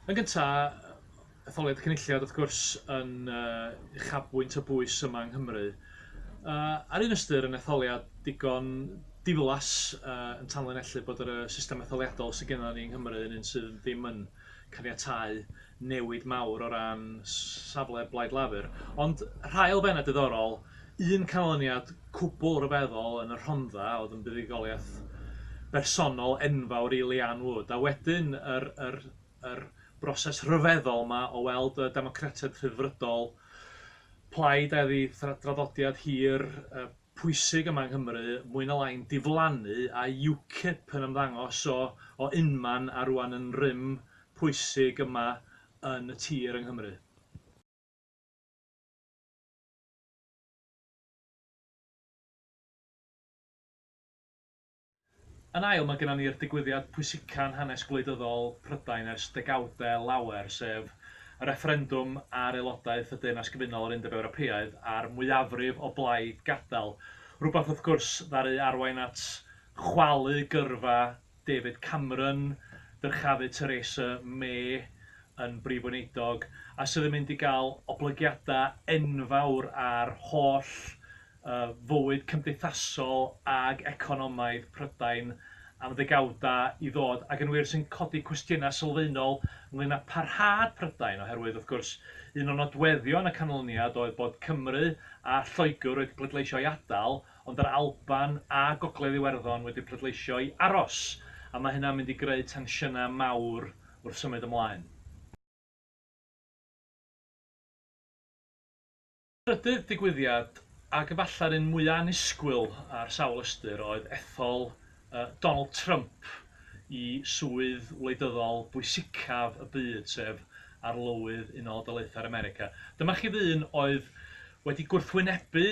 Yn gyntaf, etholiad cynulliad wrth gwrs yn yy uchafbwynt y bwys yma yng Nghymru. Yy ar un ystyr yn etholiad digon diflas yy yn tanlinellu bod yr yy system etholiadol sy gennon ni yng Nghymru yn un sydd ddim yn caniatáu newid mawr o ran safle Blaid Lafur, ond rhai elfennau diddorol, un canlyniad cwbl ryfeddol yn y Rhondda oedd yn buddugoliaeth bersonol enfawr i Leanne Wood, a wedyn yr yr yr broses rhyfeddol 'ma o weld y Democratiaid Rhyddfrydol, plaid a oedd ei thraddodiad hi'r pwysig yma yng Nghymru, mwy na lai'n diflannu, a UKIP yn ymddangos o o unman a rŵan yn rym pwysig yma yn y tir yng Nghymru. Yn ail, mae gennym ni'r digwyddiad pwysica'n hanes gwleidyddol Prydain ers degawdau lawer, sef y refferendwm ar aelodaeth y Deyrnas Gyfunol o'r Undeb Ewropeaidd a'r mwyafrif o blaid gadael. Rhywbeth, wrth gwrs, ddaru arwain at chwalu gyrfa David Cameron, dyrchafu Theresa May yn Brif Weinidog, a sydd yn mynd i gael oblygiadau enfawr ar holl fywyd cymdeithasol ac economaidd Prydain am ddegawdau i ddod, ac yn wir sy'n codi cwestiynau sylfaenol ynglŷn â pharhad Prydain, oherwydd, wrth gwrs, un o nodweddion y canlyniad oedd bod Cymru a Lloegr wedi pleidleisio i adael, Ond yr Alban a Gogledd Iwerddon wedi pleidleisio i aros, a mae hynna'n mynd i greu tensiynau mawr wrth symud ymlaen. Trydydd digwyddiad, ac efallai'r un mwyaf annisgwyl ar sawl ystyr, oedd ethol Donald Trump i swydd wleidyddol bwysicaf y byd, sef Arlywydd Unol o Daleithiau'r America. Dyma chi ddyn oedd wedi gwrthwynebu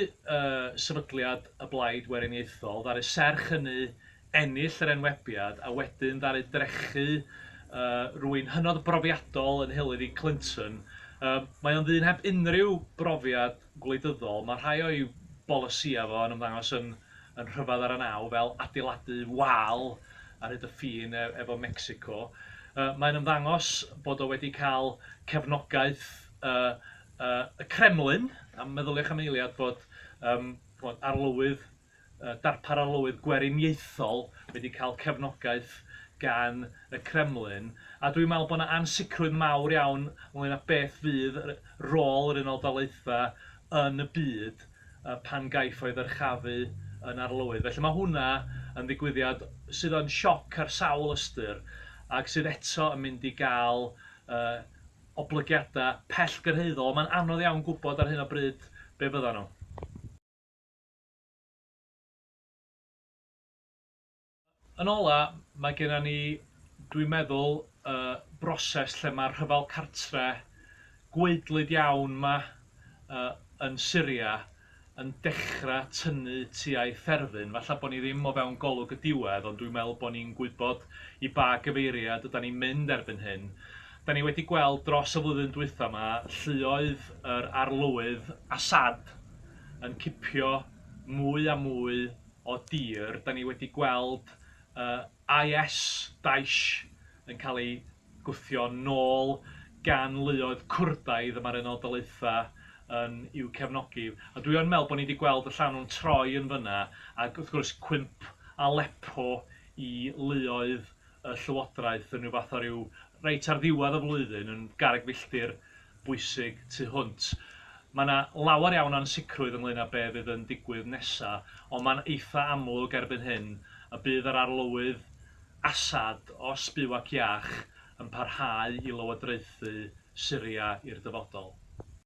sefydliad y Blaid Weriniaethol, ddaru serch hynny ennill yr enwebiad a wedyn ddaru drechu rwy'n hynod brofiadol yn nheulu fi, Clinton. Mae o'n ddyn heb unrhyw brofiad gwleidyddol, mae rhai o'i bolisïau fo yn ymddangos yn yn rhyfedd ar y naw, fel adeiladu wal ar hyd y ffin e- efo Mecsico. Yy mae'n ymddangos bod o wedi cael cefnogaeth y y y Kremlin, a meddyliwch am eiliad bod yym ch'mod arlywydd yy darpar arlywydd gweriniaethol wedi cael cefnogaeth gan y Kremlin, a dwi'n meddwl bod 'na ansicrwydd mawr iawn ynglŷn â beth fydd r- rôl yr Unol Daleithiau yn y byd yy pan gaiff o'i ddyrchafu yn arlywydd. Felly mae hwnna yn ddigwyddiad sydd yn sioc ar sawl ystyr ac sydd eto yn mynd i gael yy oblygiadau pellgyrhaeddol. Mae'n anodd iawn gwybod ar hyn o bryd be fyddan nhw. Yn ola, mae genna ni, dwi'n meddwl, y broses lle mae'r rhyfel cartre gwaedlyd iawn 'ma yn Syria yn dechrau tynnu tua'i therfyn. Falle bod ni ddim o fewn golwg y diwedd, ond dwi'n meddwl bod ni'n gwybod i ba gyfeiriad ydan ni'n mynd erbyn hyn. Da ni wedi gweld dros y flwyddyn dwytha 'ma lluoedd yr Arlywydd Assad yn cipio mwy a mwy o dir. Da ni wedi gweld uh, IS, Daesh, yn cael ei gwthio nôl gan luoedd Cwrdaidd y mae'r Unol Daleitha yn i'w cefnogi. A dwi yn meddwl bod ni wedi gweld y llanw'n troi yn fyna, ac wrth gwrs cwymp Aleppo i luoedd y llywodraeth yn rhyw fath o ryw reit ar ddiwedd y flwyddyn yn garreg filltir bwysig tu hwnt. Mae 'na lawer iawn o ansicrwydd ynglŷn â be' fydd yn digwydd nesa, ond mae'n eitha' amlwg erbyn hyn y bydd yr Arlywydd Assad, os byw ac iach, yn parhau i lywodraethu Syria i'r dyfodol.